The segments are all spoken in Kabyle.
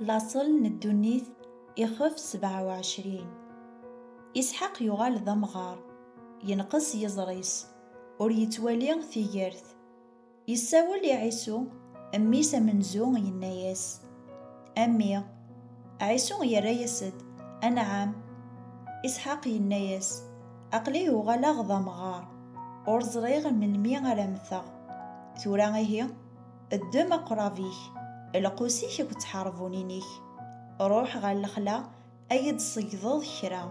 Laṣel n ddunit, ixef sebɛa u ɛecrin. Isḥaq yuɣal d amɣar, yenqes yiẓri-s, ur yettwali tigert. Yessawel i Ɛisu, mmi-s amenzu, yenna-yas, A mmi! Ɛisu yerra-yas-d, Anɛam! Isḥaq yenna-yas, Aql-i uɣaleɣ d amɣar, ur ẓriɣ melmi ara mmteɣ. Tura ihi? Ddem aqrab-ik, lqus-ik akked tḥerbunin-ik, ruḥ ɣer lexla ad yi-d-tṣeyydeḍ kra.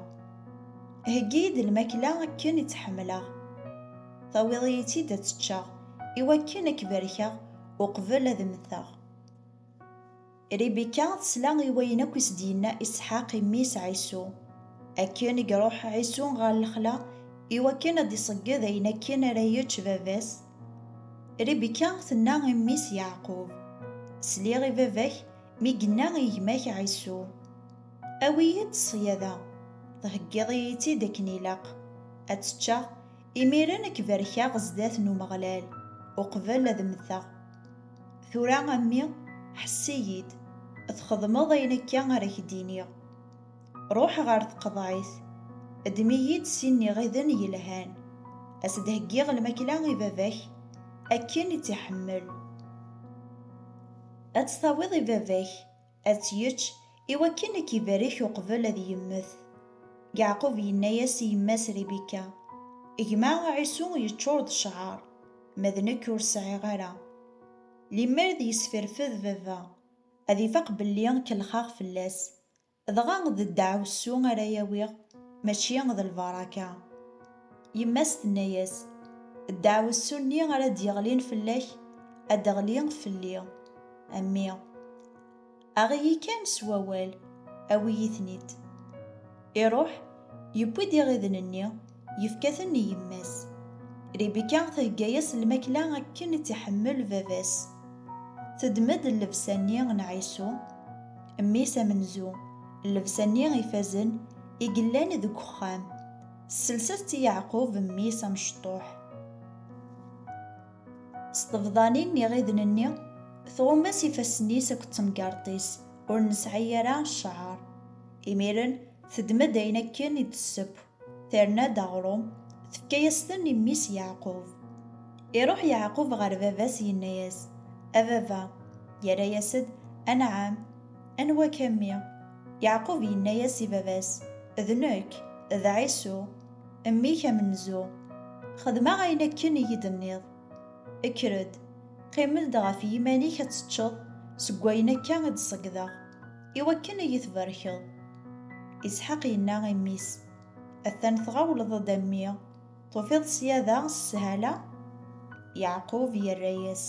Heggi-yi-d lmakla akken i tt-ḥemmleɣ, tawiḍ-iyi-tt-id ad tt-ččeɣ, i wakken ad k-barkeɣ uqbel ad mmteɣ. Ribika tesla i wayen akk i s-d-yenna Isḥaq i mmi-s Ɛisu. Akken i iruḥ Ɛisu ɣer lexla i wakken ad d-iṣegged ayen akken ara yečč baba-s, Ribika tenna i mmi-s Yeɛqub, Sliɣ i baba-k mi yenna i gma-k Ɛisu, Awi-yi-d ṣṣyada, theggiḍ-iyi-tt-id akken ilaq, ad tt-ččeɣ, Imiren ad k-barkeɣ zdat n Umeɣlal, uqbel ad mmteɣ. Tura a mmi, ḥess-iyi-d, txedmeḍ ayen akka ara k-d-iniɣ. Ruḥ ɣer tqeḍɛit, ddem-iyi-d sin n iɣiden yelhan, ad s-d-heggiɣ lmakla i baba-k akken i tt-iḥemmel. Ad tt-tawiḍ i baba-k, Ad tt-yečč, iwakken ad k-ibarek uqbel ad yemmet. Yeɛqub yenna-yas i yemma-s Ribika, Gma Ɛisu yeččur d cceɛr, ma d nekk ur sɛiɣ ara. Limmer d yesferfed baba, ad ifaq belli kellxeɣ fell-as. Dɣa d ddeɛwessu ara awiɣ, mačči d lbaraka. Yemma-s tenna-yas, Ddeɛwessu-nni ara d-yeɣlin fell-ak, ad d-teɣli fell-i. A mmi! Aɣ-iyi kan s wawal, awi-yi-ten-id. Iruḥ, yewwi-d iɣiden-nni, yefka-ten i yemma-s. Ribika thegga-yas lmakla akken i tt-iḥemmel baba-s. Teddem-d llebsa-nni n Ɛisu, mmi-s amenzu, llebsa-nni ifazen i yellan deg uxxam. Sselset i Yeɛqub mmi-s amecṭuḥ. S tebḍanin n iɣiden-nni, tɣumm-as ifassen-is akked temgerḍt-is, ur nesɛi ara cceɛr. Imiren, teddem-d ayen akken i d-tesseww, terna-d aɣrum, tefka-yas-ten i mmi-s Yeɛqub. Iruḥ Yeɛqub ɣer baba-s yenna-yas, A baba! Yerra-yas-d, Anɛam! Anwa-k a mmi? Yeɛqub yenna-yas i baba-s, D nekk, d Ɛisu, mmi-k amenzu. Xedmeɣ ayen akken i yi-d-tenniḍ. Kker-d, qqim-d ɣef yiman-ik ad teččeḍ seg wayen akka i d-ṣeggdeɣ, i wakken i yi-tbarkeḍ. Isḥaq yenna i mmi-s, Atan tɣawleḍ-d a mmi! Tufiḍ ṣyada s shala? Yeɛqub yerra-yas,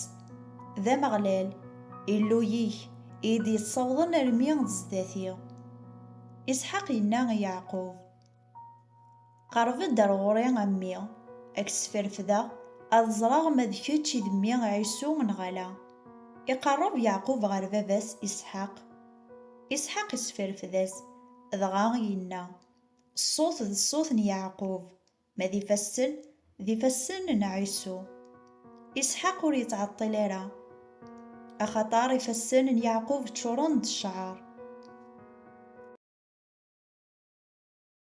D Ameɣlal, Illu-yik, i yi-d-yeţṣawḍen armi d zdat-i. Isḥaq yenna i Yeɛqub, Qerreb-ed ar ɣur-i a mmi, a k-ssferfdeɣ, ad ẓreɣ ma d kečč i d mmi Ɛisu neɣ ala. Iqerreb Yeɛqub ɣer baba-s Isḥaq. Isḥaq issferfed-as, dɣa yenna. Ṣṣut d ṣṣut n Yeɛqub, ma d ifassen, d ifassen n Ɛisu. Isḥaq ur yettɛeṭṭil ara, axaṭer ifassen n Yeɛqub ččuren d cceɛr.